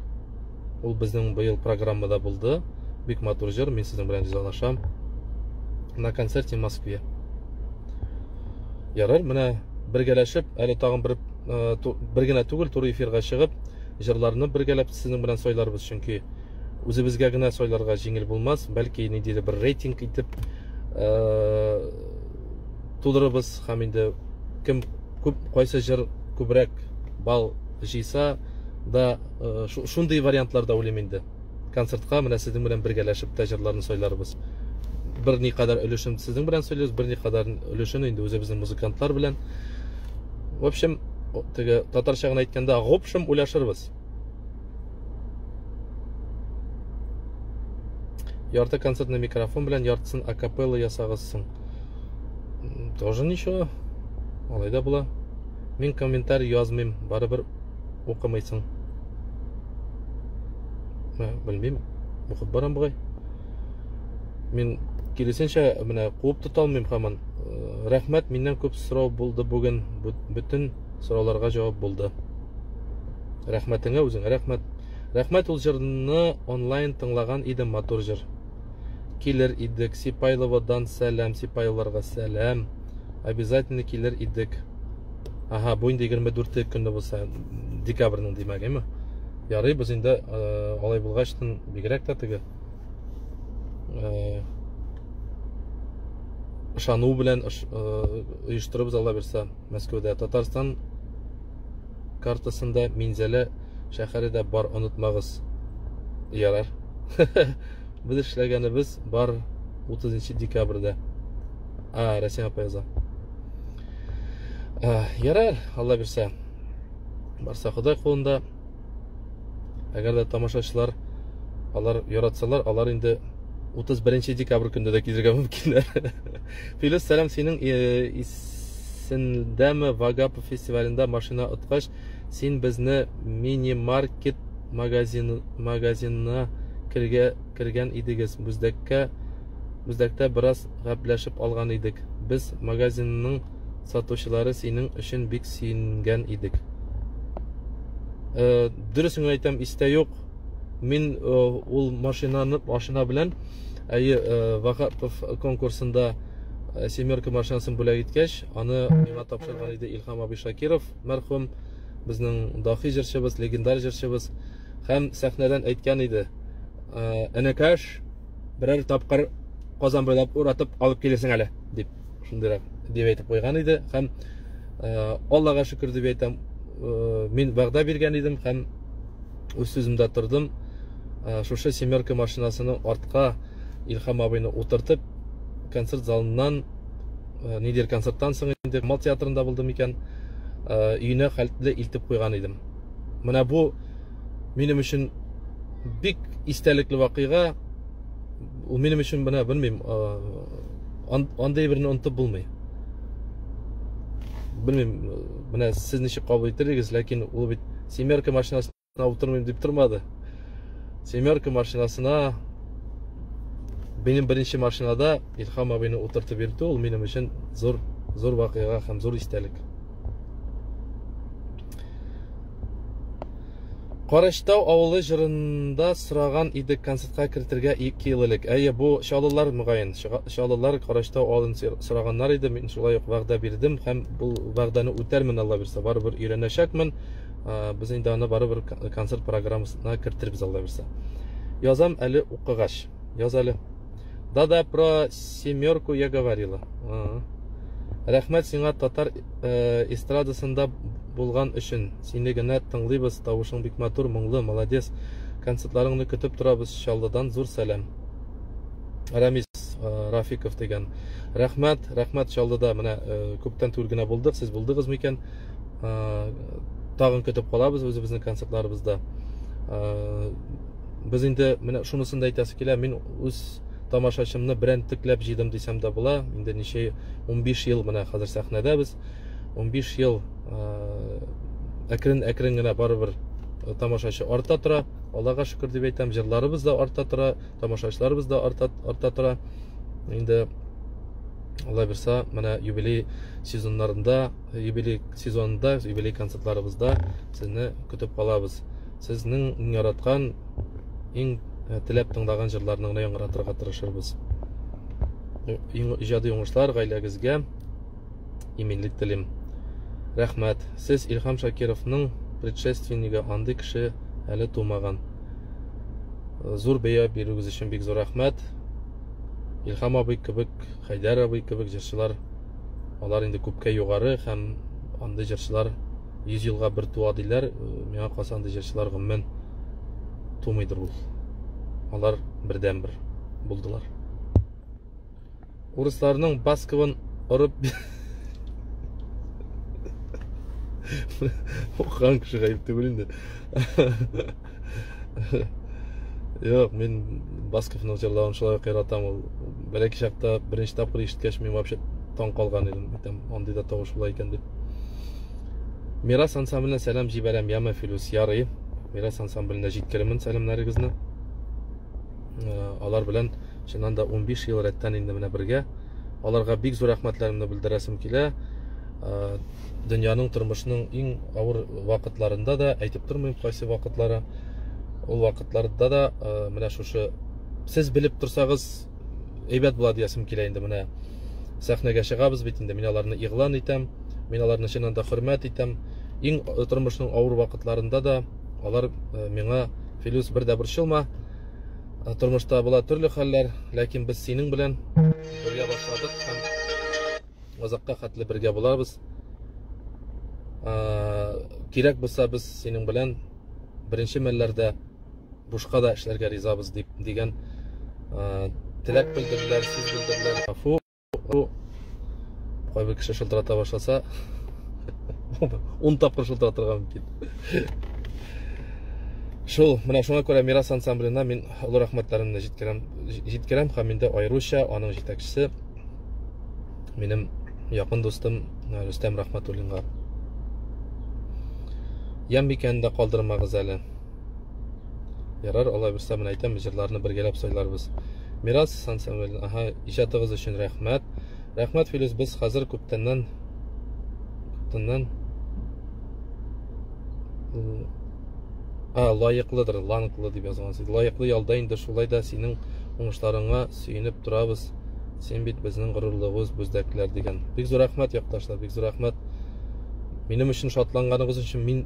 Speaker 1: Ул безнең быел программада булды. Бик матур җыр, мин сезнең белән ризалашам. На концерте в Москве. Ярар, менә бергәләшеп, әле тагын бер э, бер генә түгел, туры эфирга чыгып, җырларны бергәләп сезнең белән сойларбыз, чөнки үзебезгә генә сойларга җиңел булмас, бәлки ниндидер бер рейтинг итеп э, Тудырыбыз һәм инде кем күп кайсы җыр күбрәк бал җыйса да шундый вариантлар да уйлыйм инде. Концертка менә сезнең белән бергәләшеп тә җырларны сайларбыз. Бер никадәр өлешен сезнең белән сөйлибез, бер никадәр өлешен инде үзебезнең музыкантлар белән. В общем, теге татарча гына әйткәндә, гопшем уйлашырбыз. Ярты концертный микрофон белән яртысын акапелла ясагыз соң. Тоже ничего. Алай да була. Мин комментарий язмыйм, барыбер укымыйсың. Ә, белмим, укып барам бугай. Мин киресенчә менә куып тота алмыйм хаман. Э, рәхмәт, миннән күп сорау булды бүген. Бүтән сорауларга җавап булды. Рәхмәтеңә үзеңә рәхмәт. Рәхмәт ул җырны онлайн тыңлаган идем матур җыр. Килер идек Сипайловодан сәлам Сипайлыларга сәлам. Обязательно килер идек. Ага, бу инде 24 көнне булса декабрьнең димәгеме? Ярый, без инде э, алай булгач тын бигрәк тә теге э, ышану белән оештырыбыз Алла бирсә Мәскәүдә Татарстан картасында Минзәлә шәһәре дә бар, онытмагыз. Ярар. Без эшләгәнебез бар 30 декабрьдә. А, Рәсим апа яза. Ярар, Алла бирсә. Барса Ходай кулында. Әгәр дә тамашачылар алар яратсалар, алар инде 31 декабрь көндә дә килергә мөмкиннәр. Филүс, сәлам синең э, исемлесендәме Вагапов фестивалендә машина откач, син безне мини-маркет магазинына кергән идегез. Бүздәккә Бүздәктә бераз гәпләшеп алган идек. Без магазинның сатучылары синең өчен бик сөенгән идек. Э, дөресен әйтәм, истә юк. Мин э, ул машинаны машина белән әйе э, Вахапов конкурсында э, семерка машинасын бүләк иткәч аны миңа тапшырган иде илхам абый шакиров мәрхүм безнең дахи җырчыбыз легендар җырчыбыз һәм сәхнәдән әйткән иде э, энекәш берәр тапкыр казан буйлап уратып алып килесең әле дип шундыйрак дип әйтеп куйган иде һәм э, аллага шөкер дип әйтәм э, мин вәгъдә биргән идем һәм үз сүземдә тордым. Э, шушы семерка машинасының артка Илхам абыйны утыртып, концерт залыннан, э, нидер концерттан соң инде Камал театрында булдым икән, э, өенә хәтле илтеп куйган идем. Менә бу минем өчен бик истәлекле вакыйга. Ул минем өчен менә белмим, андый берне онтып булмый. Белмим, менә сез ничек кабул иттердегез, ләкин ул бит семерка машинасына утырмыйм дип тормады семерка машинасына минем беренче машинада илхам абыйны утыртып йөртү ул минем өчен зур зур вакыйга һәм зур истәлек Караштау авылы җырында сораган идек концертка кертергә 2 ел элек. Әйе, бу чалылар мөгаен. Чаллылар караштау алын сораганнар иде, мин шулай ук вәгъдә бирдем һәм бу вәгъдәне үтәрмен, Алла бирсә, барыбер өйрәнәчәкмен. Без инде аны барыбер концерт программасына кертербез, Алла бирсә. Язам әле укыгач. Яз әле. Да-да, про семерку я говорила. Рәхмәт сиңа татар э, эстрадасында булган өчен. Сине генә тыңлыйбыз, тавышың бик матур, моңлы, молодец. Концертларыңны көтеп торабыз Чаллыдан зур сәлам. Рәмис э, Рафиков дигән. Рәхмәт, рәхмәт Чаллыда менә э, күптән түгел генә булдык. Сез булдыгыз микән? Э, тагын көтеп калабыз үзебезнең концертларыбызда. Без инде менә шунысын да әйтәсе килә, мин үз тамашачымны берәнтекләп җыйдым дисәм дә була. Инде ничә 15 ел менә хәзер сәхнәдәбез. 15 ел әкрен-әкрен генә барыбер тамашачы арта тора. Аллага шөкер дип әйтәм, җырларыбыз да арта тора. тамашачыларыбыз да арта, арта тора. Инде Алла бирса, менә юбилей сезоннарында, юбилей сезонында, юбилей концертларыбызда сезне көтеп калабыз. Сезнең иң яраткан, иң э, теләп тыңлаган җырларны гына яңгыратырга тырышырбыз. Иң иҗади уңышлар гаиләгезгә, иминлек телим. Рәхмәт. Сез Илхам Шакировның предшественнигы, андый кеше әле тумаган. Зур бәя бирүгез өчен бик зур рәхмәт. Илхам абый кебек, Хәйдәр абый кебек җырчылар алар инде күпкә югары һәм андый җырчылар 100 елга бер туа диләр. Миңа калса андый җырчылар гомумән тумыйдыр ул. Алар бердәнбер булдылар. урысларның басковын орып Хан кеше гаеп түгел инде. Юк, мин Басковның җырлавын шулай ук яратам. Ул бәләки чакта беренче тапкыр ишеткәч мин вообще таң калган идем. Әйтәм, андый да тавыш була икән дип. Мирас ансамбленә сәлам җибәрәм, яме Филүс ярый. Мирас ансамбленә җиткеремен сәламнәрегезне. алар белән чыннан да 15 ел рәттән инде менә бергә аларга бик зур рәхмәтләремне белдерәсем килә дөньяның тормышның иң авыр вакытларында да әйтеп тормыйм кайсы вакытлары ул вакытларда да менә шушы сез белеп торсагыз әйбәт була диясем килә инде менә сәхнәгә чыгабыз бит инде мин аларны игълан итәм мин аларны чыннан да хөрмәт итәм иң тормышның авыр вакытларында да Алар э, миңа, Филюс, бер дә борчылма, э, тормышта була төрле хәлләр, ләкин без синең белән бергә башладык һәм озакка хәтле бергә булабыз. Кирәк булса без синең белән беренче мәлләрдә бушка да эшләргә ризабыз дип дигән теләк белдерделәр, сүз белдерделәр. кайбер кеше шылтырата башласа ун тапкыр шылтыратырга мөмкин шул менә шуңа күрә мирас ансамбленә мин олы рәхмәтләремне җиткерәм җиткерәм һәм инде аеруча аның җитәкчесе минем якын дустым э, рөстәм рәхмәтуллинга ямбикәне дә калдырмагыз әле Ярар, алай булса, мен әйтәм, җырларны бергәләп сайларбыз. Мирас Сан Самуэль, аһа, иҗатыгыз өчен рәхмәт. Рәхмәт, Филүс, без хәзер күптәннән күптәннән А, лаеклыдыр, ланклы дип язган сез. Лаеклы ялда инде шулай да синең уңышларыңа сөенеп торабыз. Син бит безнең горурлыгыбыз, бүздәкләр дигән. Бик зур рәхмәт, якташлар, бик зур рәхмәт. Минем өчен шатланганыгыз өчен мин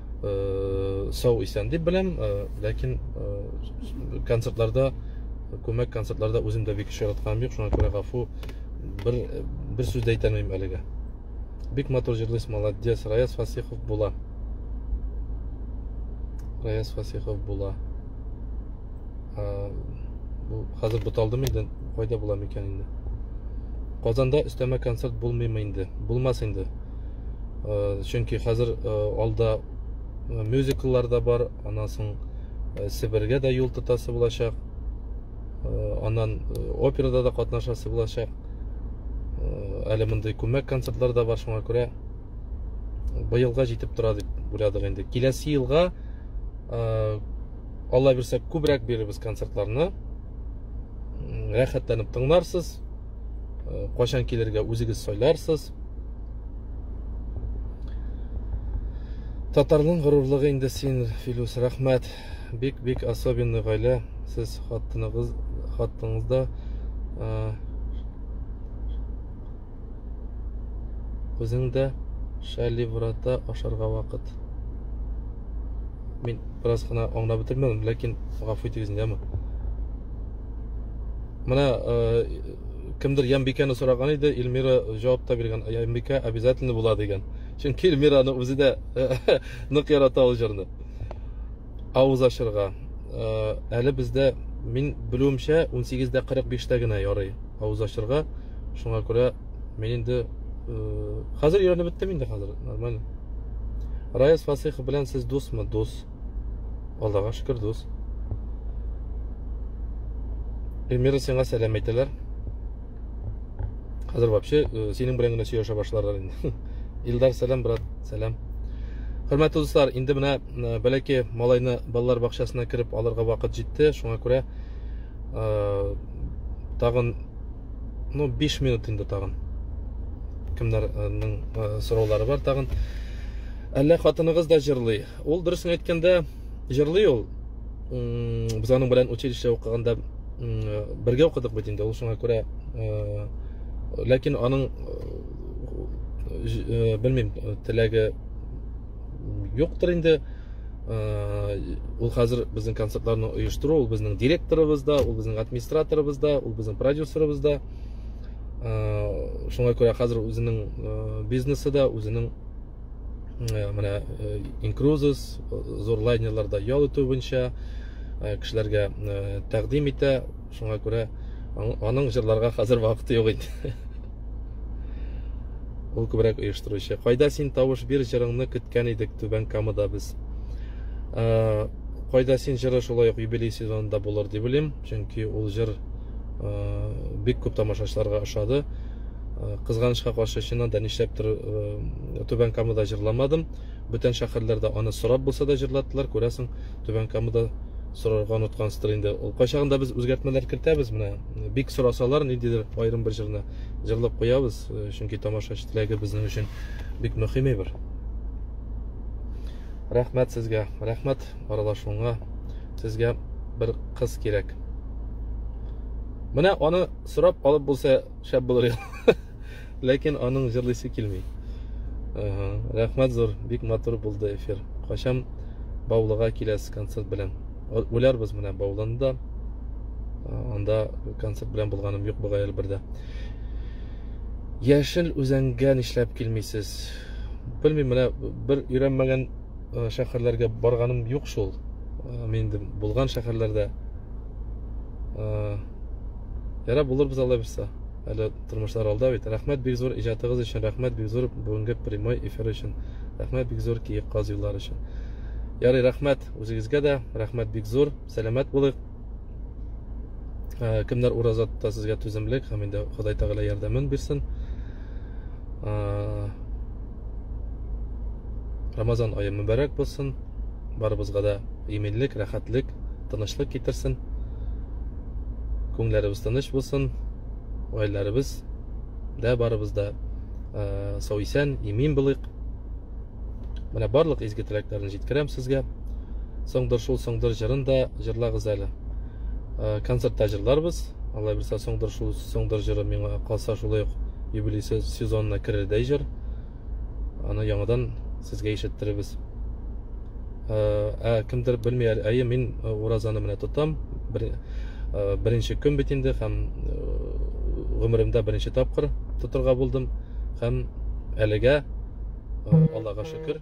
Speaker 1: э, сау исән дип беләм э, ләкин э, концертларда күмәк концертларда үзем дә бик еш яратканым юк шуңа күрә гафу бер бер сүз дә әйтә алмыйм әлегә бик матур җырлыйсыз молодец раяз фасихов була раяз фасихов була бу хәзер буталдымы инде кайда була микән инде Казанда өстәмә концерт булмыймы инде? Булмас инде. э, чөнки хәзер э, алда э, мюзикллар да бар аннан соң себергә дә юл тотасы булачак аннан операда да катнашасы булачак әле мондый күмәк концертлар да бар шуңа күрә быелга җитеп тора дип уйладык инде киләсе елга алла бирсә күбрәк бирербез концертларны рәхәтләнеп тыңларсыз кайчан килергә үзегез сайларсыз Татарның горурлыгы инде син, Филүс. Рәхмәт. Бик-бик особенный гаилә. Сез хатыныгыз, хатыныңызда үзең дә шәливрата ашарга вакыт. Мин бераз гына аңлап бетермәдем, ләкин гафу итегез инде, әмма. Менә Кемдер Ямбикәне сораган иде, Эльмира җавап та биргән, Ямбикә обязательно була дигән. Чөнки Эльмираны үзе дә нык ярата ул җырны. Авыз ачырга. Э, әле бездә, мин белүемчә, 18 дә 45 тә генә ярый авыз ачырга. Шуңа күрә мин инде э, хәзер өйрәнеп беттем инде хәзер, нормально. Раяз Фасыйхов белән сез дусмы? Дус. Аллага шөкер, дус. Эльмира сиңа сәлам әйтәләр. Хәзер вообще э, синең белән генә сөйләшә башларлар инде. Илдар сәлам, брат, сәлам. Хөрмәтле дуслар, инде менә э, бәләкәй малайны балалар бакчасына кереп алырга вакыт җитте. Шуңа күрә э, тагын ну 5 минут инде тагын. Кемнәрнең сораулары бар тагын? Әллә хатыныгыз да җырлый? Ул дөресен әйткәндә җырлый ул. Без аның белән училище укыганда бергә укыдык бит инде, ул шуңа күрә ләкин аның белмим, теләге юктыр инде. Ул хәзер безнең концертларны оештыру, ул безнең директорыбыз да, ул безнең администраторыбыз да, ул безнең продюсерыбыз да. Шуңа күрә хәзер үзенең бизнесы да, үзенең менә инкрузис зур лайнерларда ял итү буенча кешеләргә тәкъдим итә шуңа күрә аның җырларга хәзер вакыты юк инде ул күбрәк оештыручы кайда син тавыш бир җырыңны көткән идек түбән камада без кайда син җыры шулай ук юбилей сезонында булыр дип уйлыйм чөнки ул җыр бик күп тамашачыларга ошады кызганычка каршы чыннан да нишләптер түбән камада җырламадым бүтән шәһәрләрдә аны сорап булса да җырлаттылар күрәсең түбән камада сорарга оныткансыздыр инде ул кайчагында без үзгәртмәләр кертәбез менә бик сорасалар ниндидер аерым бер җырны җырлап куябыз чөнки тамашачы теләге безнең өчен бик мөһим әйбер рәхмәт сезгә рәхмәт аралашуыңа Сезгә бер кыз кирәк. Менә аны сорап алып булса шәп булыр иде. Ләкин аның җырлыйсы килми. Ага, рәхмәт зур, бик матур булды эфир. Качам Баулыга киләс концерт белән. Үләрбез менә Баулында. Анда концерт белән булганым юк бугай Әлбердә. Яшел үзәнгә нишләп килмисез? Белмим, менә бер өйрәнмәгән э, шәһәрләргә барганым юк шул э, мин инде булган шәһәрләрдә ярар булырбыз алла бирса әле тормышлар алда бит рәхмәт бик зур иҗатыгыз өчен рәхмәт бик зур бүгенге прямой эфир өчен рәхмәт бик зур киек каз юллары өчен ярый рәхмәт үзегезгә дә рәхмәт бик зур сәламәт булыйк кемнәр ураза тота сезгә түземлек һәм инде ходай тәгалә ярдәмен бирсен Рамазан айы мөбәрәк булсын. Барыбызга да иминлек, рәхәтлек, тынычлык китерсен. Күңелләребез тыныч булсын. Гаиләләребез дә барыбыз да э, сау исән, имин булыйк. Менә барлык изге теләкләрне җиткерәм сезгә. Соңдыр шул соңдыр җырын да җырлагыз әле. э, концертта җырларбыз алла бирса соңдыр шул соңдыр җыры миңа калса шулай ук юбилей сезонына керердәй җыр аны яңадан сезгә ишеттеребез ә, э, ә кемдер белми әйе мин э, уразаны менә тотам бер, ә, беренче көн бит инде һәм гомеремдә беренче тапкыр тотырга булдым һәм әлегә аллага шөкер